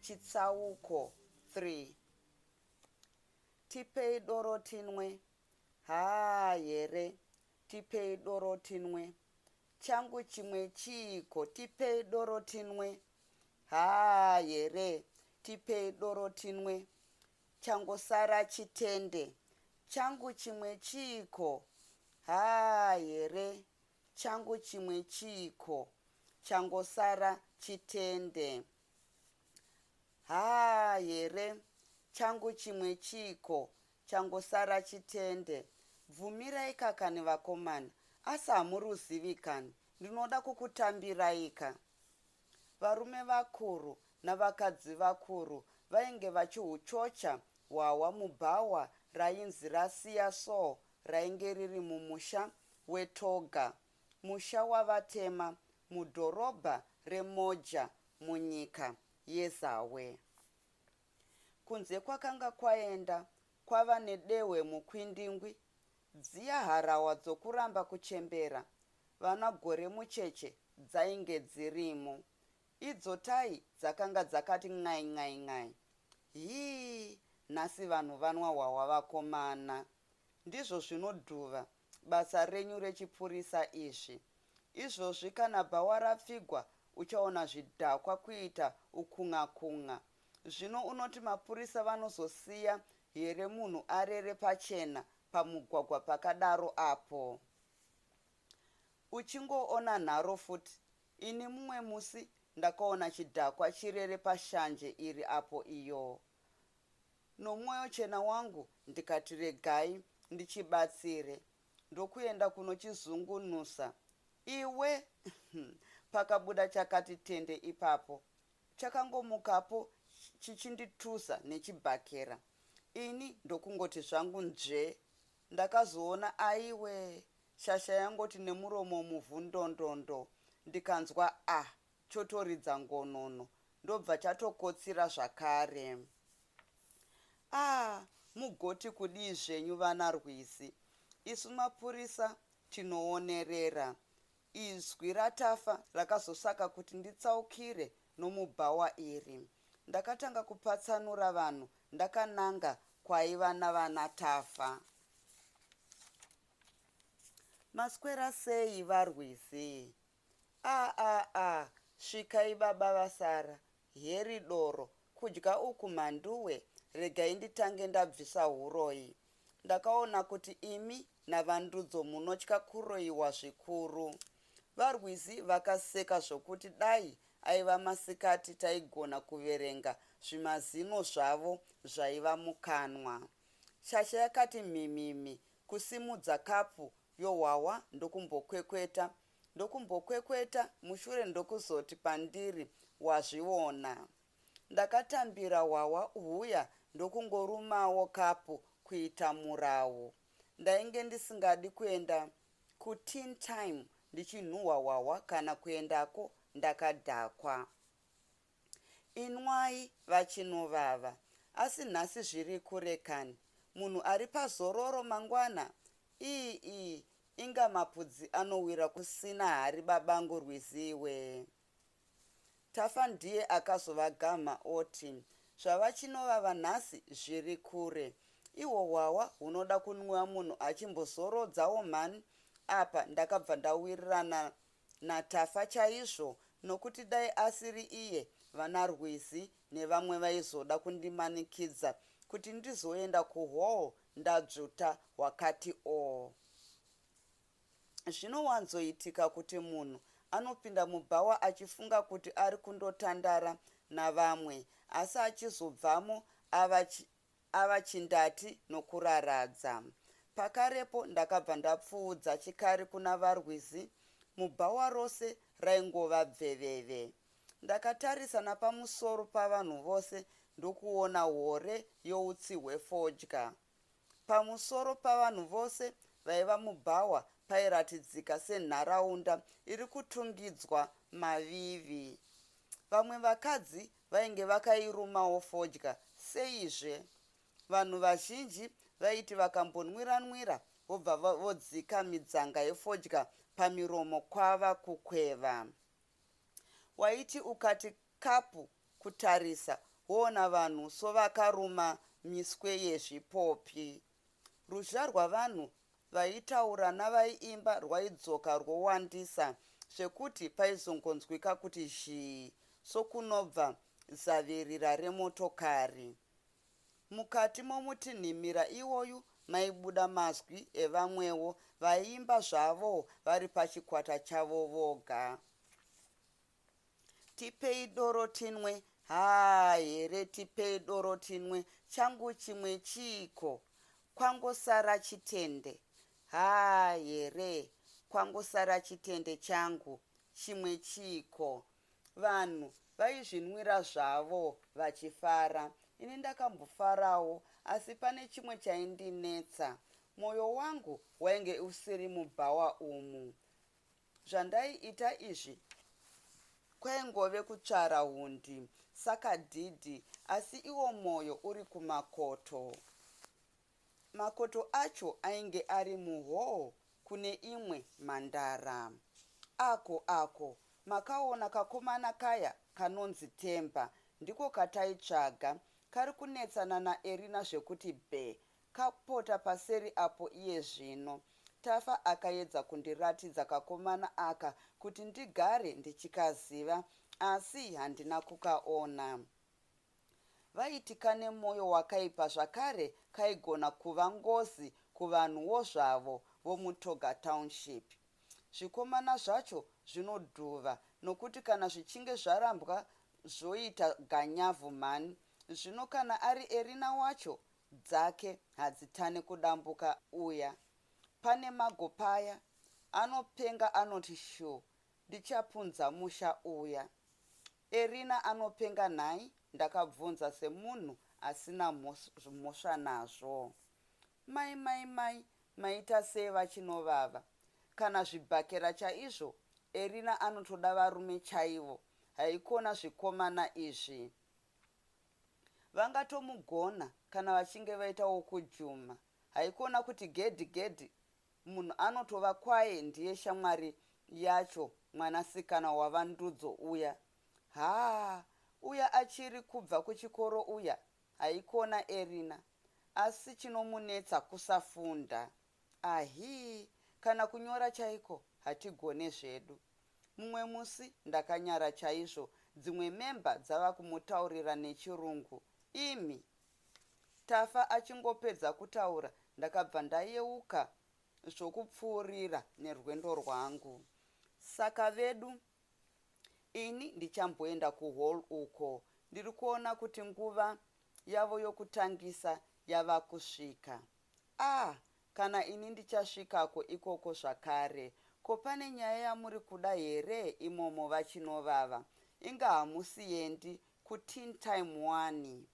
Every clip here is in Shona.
Chitsauko 3 Tipei doro tinwe, haa here, tipei doro tinwe, changu chimwe chiiko, tipei doro tinwe, haa here, tipei doro tinwe, changosara chitende, changu chimwe chiiko, haa here, Changu chimwe chiiko changosara chitende haa here changu chimwe chiiko changosara chitende bvumirai ka kani vakomana asi hamuruzivi kani ndinoda kukutambirai ka varume vakuru navakadzi vakuru vainge vachihuchocha hwahwa mubhawa rainzi rasiya so rainge riri mumusha weToga, musha wavatema mudhorobha reMoja munyika yeZawe. Kunze kwakanga kwaenda kwava nedehwe mukwindingwi, dziya harawa dzokuramba kuchembera vana Goremucheche dzainge dzirimo, Idzo tayi dzakanga dzakati n'ai n'ai n'ai. Hii nhasi vanhu vanwa hwahwa vakomana. Ndizvo zvino Dhuva basa renyu rechipurisa izvi. Izvozvi kana bhawa rapfigwa uchaona zvidhakwa kuita ukun'a kun'a. Zvino unoti mapurisa vanozosiya here munhu arere pachena pamugwagwa pakadaro apo. Uchingoona nharo futi Ini mumwe musi ndakaona chidhakwa chirere pashanje iri apo iyoo. Nomoyo chena wangu ndikati regai ndichibatsire ndokuenda kunochizungunusa iwe umm pakabuda chakati tende ipapo. Chakangomukapo chichinditusa nechibhakera ini ndokungoti zvangu nzvee Ndakazoona aiwe shasha yangoti nemuromo muvhu ndondondo ndikanzwa ah chotoridza ngonono ndobva chatokotsira zvakare. Ah mugoti kudii zvenyu vana Rwizi isu mapurisa tinoonerera Izwi raTafa rakazosaka kuti nditsaukire nomubhawa iri. Ndakatanga kupatsanura vanhu ndakananga kwaiva navanaTafa. Maswera sei vaRwizi? Aah aah svikai baba vasara Heri doro kudya uku mhanduwe regai nditange ndabvisa huroyi. Ndakaona kuti imi naVaNdudzo munotya kuroyiwa zvikuru. VaRwizi vakaseka zvokuti dai aiva masikati taigona kuverenga zvimazino zvavo zvaiva mukanwa. Shasha yakati mhimhimhi kusimudza kapu yohwahwa ndokumbokwekweta ndokumbokwekweta mushure ndokuzoti pandiri wazviona. Ndakatambira hwahwa huya ndokungorumawo kapu kuita murawu. Ndainge ndisingadi kuenda kuteen time ndichinhuhwa hwahwa kana kuendako ndakadhakwa. Inwai vachinovava asi nhasi zviri kure kani munhu ari pazororo mangwana iih inga mapudzi anowira kusina hari babangu Rwizi iwee. Tafa ndiye akazovagamha oti zvavachinovava nhasi zviri kure ihwo hwahwa hunoda kunwiwa munhu achimbozorodzawo mhani apa ndakabva ndawirirana naTafa chaizvo nokuti dai asiri iye vanaRwizi nevamwe vaizoda kundimanikidza kuti ndizoenda kuhall ndadzvuta hwakati oo. Zvinowanzoitika kuti munhu anopinda mubhawa achifunga kuti ari kundotandara navamwe asi achizobvamo ava ava chindati nokuraradza. Pakarepo ndakabva ndapfuudza chikari kuna vaRwizi mubhawa rose raingova bveveve. Ndakatarisa napamusoro pavanhu vose ndokuona hore youtsi hwefodya. Pamusoro pavanhu vose vaiva mubhawa pairatidzika senharaunda iri kutungidzwa mavivi. Vamwe vakadzi vainge vakairumawo fodya seizve vanhu vazhinji vaiti vakambonwira-nwira vobva vodzika midzanga yefodya pamiromo kwava kukweva. Waiti ukati kapu kutarisa woona vanhu sovakaruma miswe yezvipopi. Ruzha rwavanhu vaitaura navaiimba rwaidzoka rwowandisa zvekuti paizongonzwika kuti zhii sokunobva zavirira remotokari. Mukati momutinhimira iwoyu maibuda mazwi evamwewo vaiimba zvavo vari pachikwata chavo voga. tipei doro tinwe haa here tipei doro tinwe changu chimwe chiiko kwangosara chitende haa here kwangosara chitende changu chimwe chiiko vanhu vaizvinwira zvavo vachifara ini ndakambofarawo asi pane chimwe chaindinetsa mwoyo wangu wainge usiri mubhawa umu zvandaiita izvi kwaingove kutsvara hundi saka dhidhi asi iwo mwoyo uri kumakoto makoto acho ainge ari muhoo kune imwe mhandara ako ako makaona kakomana kaya kanonzi temba ndiko kataitsvaga kari kunetsana naerina zvekuti bhe Kapota paseri apo iye zvino. Tafa akaedza kundiratidza kakomana aka kuti ndigare ndichikaziva asi handina kukaona. Vaiti kane moyo wakaipa zvakare kaigona kuva ngozi kuvanhuwo zvavo vomuToga Township. Zvikomana zvacho zvinodhuva nokuti kana zvichinge zvarambwa zvoita ganyavhu mhani. Zvino kana ari Erina wacho dzake hadzitane kudambuka uya pane mago paya anopenga anoti sure ndichapunza musha uya Erina anopenga nhai ndakabvunza semunhu asina mhosva nazvo Mai mai mai maita sei vachinovava kana zvibhakera chaizvo Erina anotoda varume chaivo haikona zvikomana izvi Vangatomugona kana vachinge vaita wokujuma haikona kuti gedhi gedhi munhu anotova kwaye ndiye shamwari yacho mwanasikana waVaNdudzo uya haa uya achiri kubva kuchikoro uya haikona Erina asi chinomunetsa kusafunda Ahii kana kunyora chaiko hatigone zvedu. Mumwe musi ndakanyara chaizvo dzimwe member dzava kumutaurira nechirungu imi. Tafa achingopedza kutaura ndakabva ndayeuka zvokupfuurira nerwendo rwangu. Saka vedu ini ndichamboenda kuhall uko ndiri kuona kuti nguva yavo yokutangisa yava kusvika. Ah kana ini ndichasvikako ikoko zvakare. Ko pane nyaya yamuri kuda here imomo vaChinovava? Inga hamusiendi kuTeen Time wani?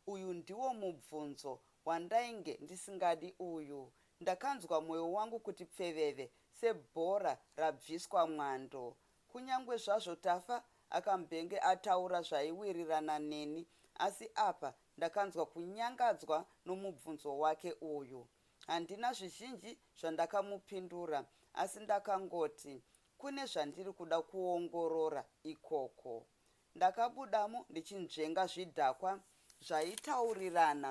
Uyu ndiwo mubvunzo wandainge ndisingadi uyu. Ndakanzwa moyo wangu kuti pfeveve sebhora rabviswa mwando. Kunyangwe zvazvo Tafa akambenge ataura zvaiwirirana neni asi apa Ndakanzwa kunyangadzwa nomubvunzo wake uyu. Handina zvizhinji zvandakamupindura asi ndakangoti, Kune zvandiri kuda kuongorora ikoko. Ndakabudamo ndichinzvenga zvidhakwa zvaitaurirana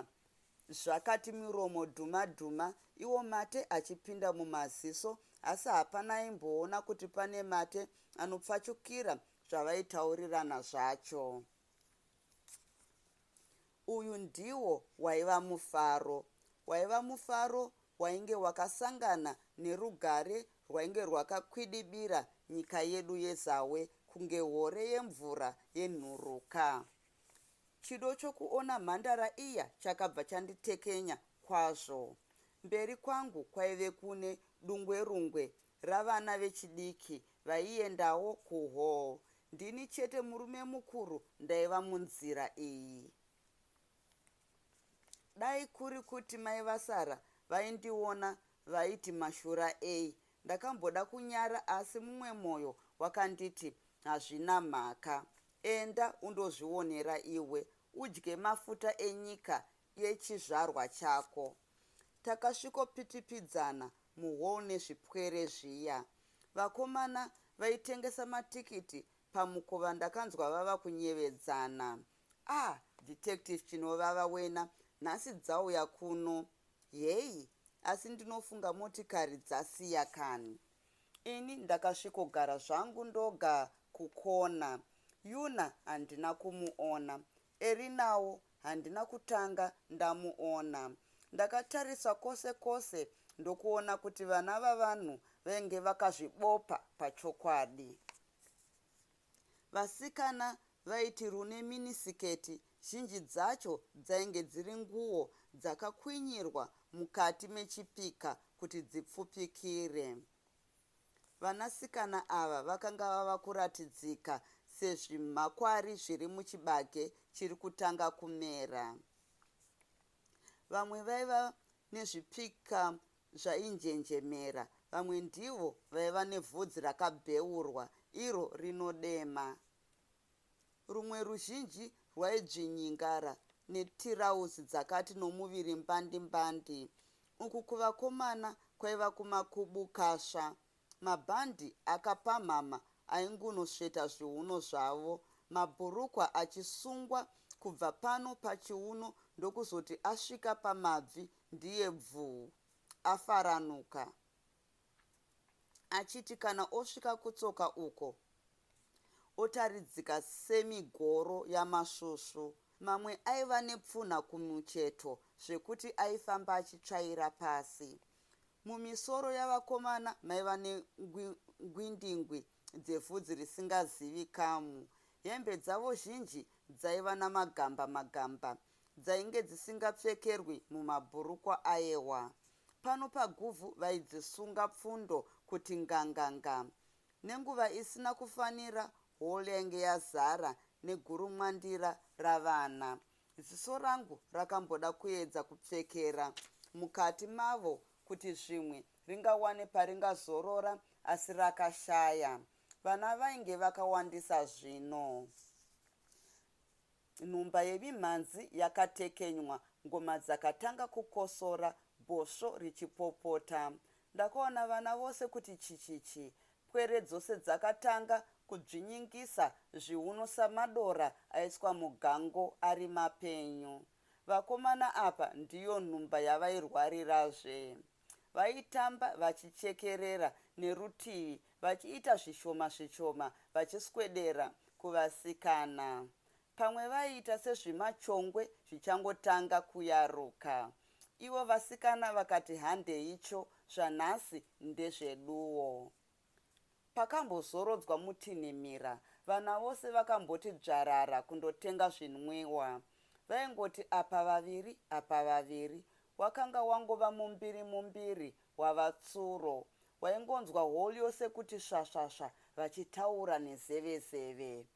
zvakati miromo dhuma dhuma iwo mate achipinda mumaziso asi hapana aimboona kuti pane mate anopfachukira zvavaitaurirana zvacho. Uyu ndiwo waiva mufaro. Waiva mufaro wainge wakasangana nerugare rwainge rwakakwidibira nyika yedu yeZawe kunge hore yemvura yenhuruka. Chido chokuona mhandara iya chakabva chanditekenya kwazvo. Mberi kwangu kwaive kune dungwerungwe ravana vechidiki vaiendawo kuhall ndini chete murume mukuru ndaiva munzira iyi dai kuri kuti mai vasara vaindiona vaiti mashura ei ndakamboda kunyara asi mumwe moyo wakanditi hazvina mhaka enda undozvionera iwe udye mafuta enyika yechizvarwa chako. Takasvikopitipidzana muhall nezvipwere zviya. Vakomana vaitengesa matikiti pamukova ndakanzwa vava kunyevedzana. Ah detective chinovava wena nhasi dzauya kuno. Hey asi ndinofunga motikari dzasiya kani. Ini ndakasvikogara zvangu ndoga kukona. Yuna handina kumuona. Erinawo handina kutanga ndamuona. Ndakatarisa kose kose ndokuona kuti vana vavanhu venge vakazvibopa pachokwadi. Vasikana vaiti rune minisiketi zhinji dzacho dzainge dziri nguwo dzakakwinyirwa mukati mechipika kuti dzipfupikire. Vanasikana ava vakanga vava kuratidzika sezvimhakwari zviri muchibage chiri kutanga kumera. Vamwe vaiva nezvipika zvainjenjemera, vamwe ndivo vaiva nevhudzi rakabheurwa iro rinodema. Rumwe ruzhinji rwaidzvinyingara netirauzi dzakati nomuviri mbandi mbandi uku kuvakomana kwaiva kumakubukasva. Mabhandi akapamhama aingunosveta zviuno zvavo, mabhurukwa achisungwa kubva pano pachiuno ndokuzoti asvika pamabvi ndiye bvuu, afaranuka. achiti kana osvika kutsoka uko otaridzika semigoro yamasvusvu. Mamwe aiva nepfunha kumucheto zvekuti aifamba achitsvaira pasi. Mumisoro yavakomana maiva nengwindingwi dzevhudzi risingazivikamu. Hembe dzavo zhinji dzaiva namagamba magamba dzainge dzisingapfekerwi mumabhurukwa ayewa. Pano paGuvhu vaidzisunga pfundo kuti nganganga. Nenguva isina kufanira hall yainge yazara negurumwandira ravana. Ziso rangu rakamboda kuedza kupfekera mukati mavo kuti zvimwe ringawane paringazorora asi rakashaya. Vana vainge vakawandisa zvino. Nhumba yemimhanzi yakatekenywa, ngoma dzakatanga kukosora, bhosvo richipopota. Ndakaona vana vose kuti chichichi. Pwere dzose dzakatanga kudzvinyingisa zviuno samadora aiswa mugango ari mapenyu. Vakomana apa ndiyo nhumba yavairwarirazve. Vaitamba vachichekerera nerutivi vachiita zvishoma zvishoma vachiswedera kuvasikana. Pamwe vaiita sezvimachongwe zvichangotanga kuyaruka. Ivo vasikana vakati handeicho zvanhasi ndezveduwo. Pakambozorodzwa mutinhimira vana vose vakamboti dzvarara kundotenga zvinwiwa. Vaingoti apa vaviri apa vaviri. Wakanga wangova mumbiri mumbiri wavatsuro. Waingonzwa hall yose kuti svasvasva vachitaura nezevezeve.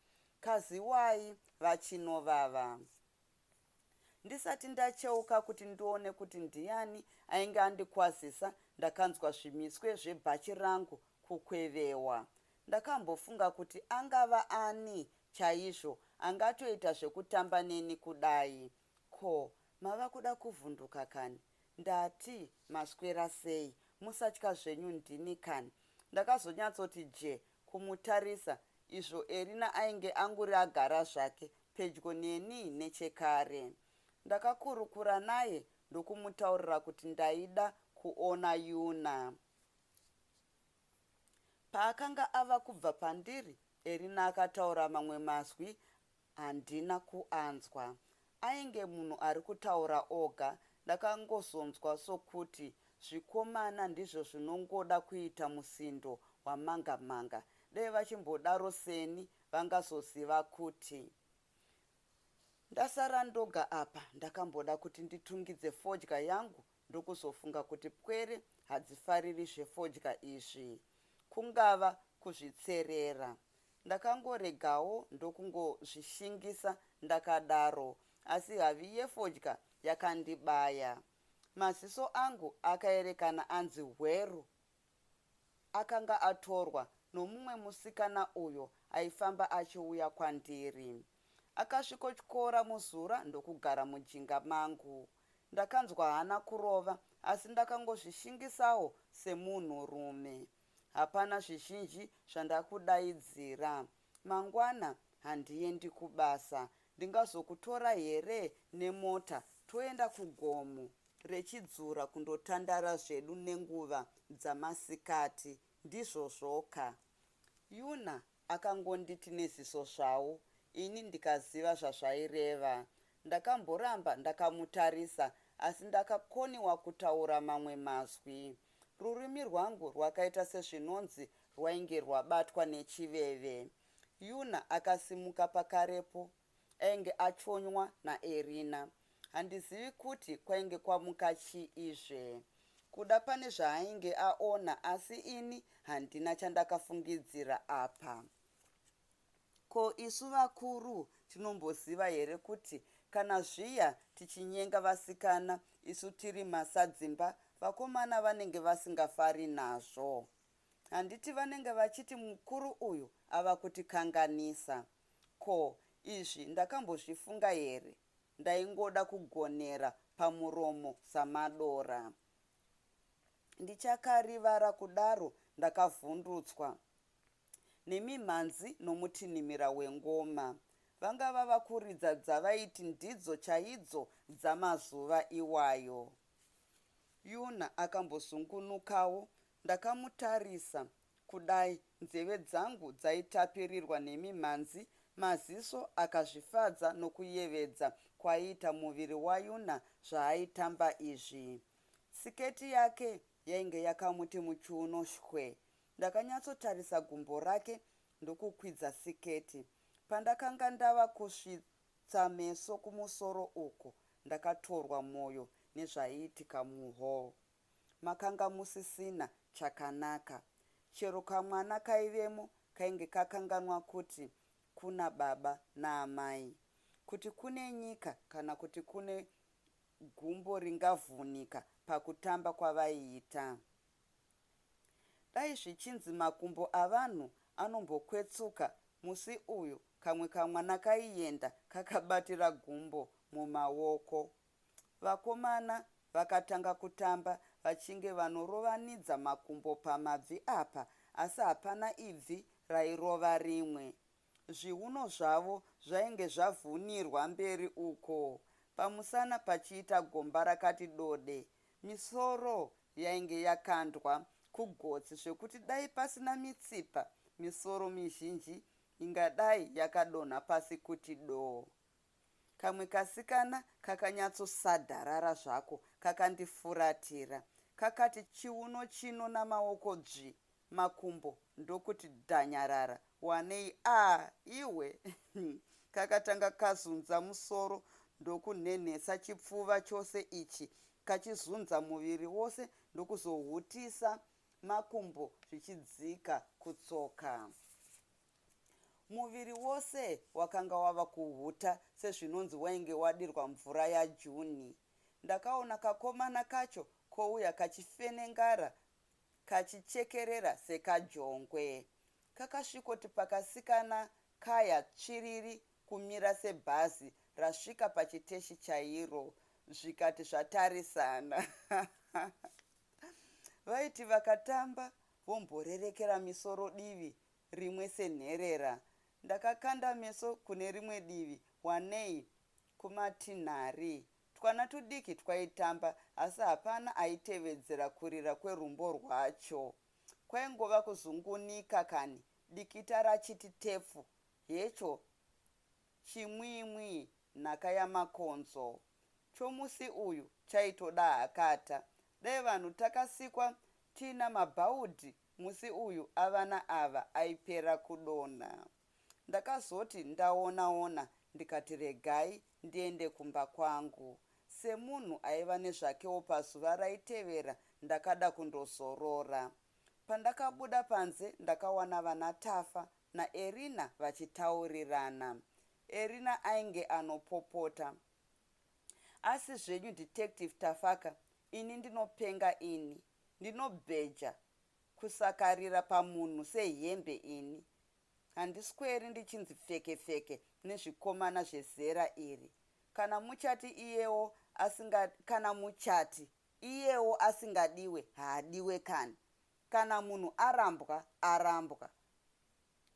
Kaziwai vachinovava. Ndisati ndacheuka kuti ndione kuti ndiyani ainge andikwazisa ndakanzwa zvimiswe zvebhachi rangu kukwevewa. Ndakambofunga kuti angava ani chaizvo angatoita zvekutamba neni kudai. Ko mava kuda kuvhunduka kani? Ndati maswera sei? Musatya zvenyu ndini kani. Ndakazonyatsoti jee kumutarisa izvo Erina ainge anguri agara zvake pedyo neni nechekare. Ndakakurukura naye ndokumutaurira kuti ndaida kuona Yuna. Paakanga ava kubva pandiri, Erina akataura mamwe mazwi Handina kuanzwa ainge munhu ari kutaura oga ndakangozonzwa sokuti zvikomana ndizvo zvinongoda kuita musindo wamanga manga dai vachimbodaro seni vangazoziva kuti ndasara ndoga apa ndakamboda kuti nditungidze fodya yangu ndokuzofunga kuti pwere hadzifariri zvefodya izvi, kungava kuzvitserera. Ndakangoregawo ndokungozvishingisa ndakadaro asi havi yefodya yakandibaya. Maziso angu akaerekana anzi hweru Akanga atorwa nomumwe musikana uyo aifamba achiuya kwandiri. Akasvikotyora muzura ndokugara mujinga mangu. Ndakanzwa hana kurova asi ndakangozvishingisawo semunhurume. Hapana zvizhinji zvandakudaidzira. Mangwana handiendi kubasa Ndingazokutora here nemota toenda kugomo reChidzura kundotandara zvedu nenguva dzamasikati, ndizvozvoka? Yuna akangonditi neziso zvawo ini ndikaziva zvazvaireva. Ndakamboramba ndakamutarisa asi ndakakoniwa kutaura mamwe mazwi. Rurimi rwangu rwakaita sezvinonzi rwainge rwabatwa nechiveve. Yuna akasimuka pakarepo ainge achonywa naErina. Handizivi kuti kwainge kwamuka chii izve. Kuda pane zvaainge aona asi ini handina chandakafungidzira apa. Ko isu vakuru tinomboziva here kuti kana zviya tichinyenga vasikana isu tiri masadzimba vakomana vanenge vasingafari nazvo. Handiti vanenge vachiti mukuru uyu ava kutikanganisa. Ko, izvi ndakambozvifunga here? Ndaingoda kugonera pamuromo samadora. Ndichakarivara kudaro ndakavhundutswa nemimhanzi nomutinhimira wengoma. Vanga vava kuridza dzavaiti ndidzo chaidzo dzamazuva iwayo. Yuna akambozungunukawo Ndakamutarisa kudai nzeve dzangu dzaitapirirwa nemimhanzi maziso akazvifadza nokuyevedza kwaiita muviri waYuna zvaaitamba izvi. Siketi yake yainge yakamuti muchiuno shwe. Ndakanyatsotarisa gumbo rake ndokukwidza siketi. Pandakanga ndava kusvitsa meso kumusoro uku ndakatorwa moyo nezvaiitika muhall. Makanga musisina chakanaka. Chero kamwana kaivemo kainge kakanganwa kuti kuna baba naamai. Kuti kune nyika kana kuti kune gumbo ringavhunika pakutamba kwavaiita. Dai zvichinzi makumbo avanhu anombokwetsuka musi uyu kamwe kamwana kaienda kakabatira gumbo mumaoko Vakomana vakatanga kutamba vachinge vanorovanidza makumbo pamabvi apa asi hapana ibvi rairova rimwe. Zviuno zvavo zvainge zvavhunirwa mberi uko, pamusana pachiita gomba rakati dode. Misoro yainge yakandwa kugotsi zvekuti dai pasina mitsipa misoro mizhinji ingadai yakadonha pasi kuti doo. Kamwe kasikana kakanyatsosadharara zvako kakandifuratira. Kakati chiuno chino namaoko dzvi, makumbo ndokuti dhanyarara. Wanei ah iwe umm. Kakatanga kazunza musoro ndokunhenhesa chipfuva chose ichi kachizunza muviri wose ndokuzohutisa makumbo zvichidzika kutsoka. Muviri wose wakanga wava kuhuta sezvinonzi wainge wadirwa mvura yaJune. Ndakaona kakomana kacho kouya kachifenengara kachichekerera sekajongwe. Kakasvikoti pakasikana kaya tsviriri kumira sebhazi rasvika pachiteshi chairo zvikati zvatarisana. Vaiti vakatamba vomborerekera misoro divi rimwe senherera ndakakanda meso kune rimwe divi wanei kumatinhari twana tudiki twaitamba asi hapana aitevedzera kurira kwerumbo rwacho kwaingova kuzungunika kani dikita rachiti tepfu hecho chimwimwi nhaka yamakonzo chomusi uyu chaitoda hakata dai vanhu takasikwa tiina mabhaudhi Musi uyu avana ava aipera kudonha. Ndakazoti ndaona ona ndikati regai ndiende kumba kwangu. Semunhu aiva nezvakewo pazuva raitevera ndakada kundozorora. Pandakabuda panze ndakawana vana Tafa na Erina vachitaurirana. Erina ainge anopopota. Asi zvenyu detective Tafaka ini ndinopenga ini. Ndinobheja kusakarira pamunhu sehembe ini. Handisweri ndichinzi pfeke pfeke nezvikomana zvezera iri. Kana muchati iyewo asinga kana muchati iyewo asingadiwe haadiwe kani. Kana munhu arambwa arambwa.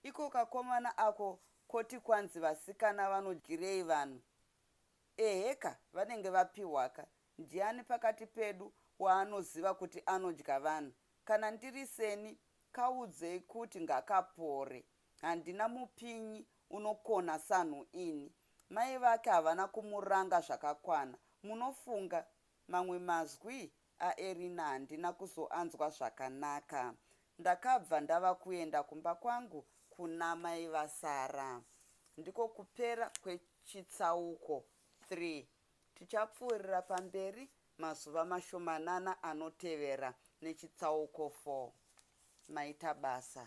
Iko kakomana ako koti kwanzi vasikana vanodyirei vanhu. Eheka vanenge vapihwaka Ndiani pakati pedu waanoziva kuti anodya vanhu? Kana ndiri seni, kaudzei kuti ngakapore. Handina mupinyi unokona sanhu ini. Mai vake havana kumuranga zvakakwana, munofunga? Mamwe mazwi aErina handina kuzoanzwa zvakanaka. Ndakabva ndava kuenda kumba kwangu kuna mai vaSarah. Ndiko kupera kwechitsauko 3. Tichapfuurira pamberi mazuva mashomanana anotevera nechitsauko 4. Maita basa.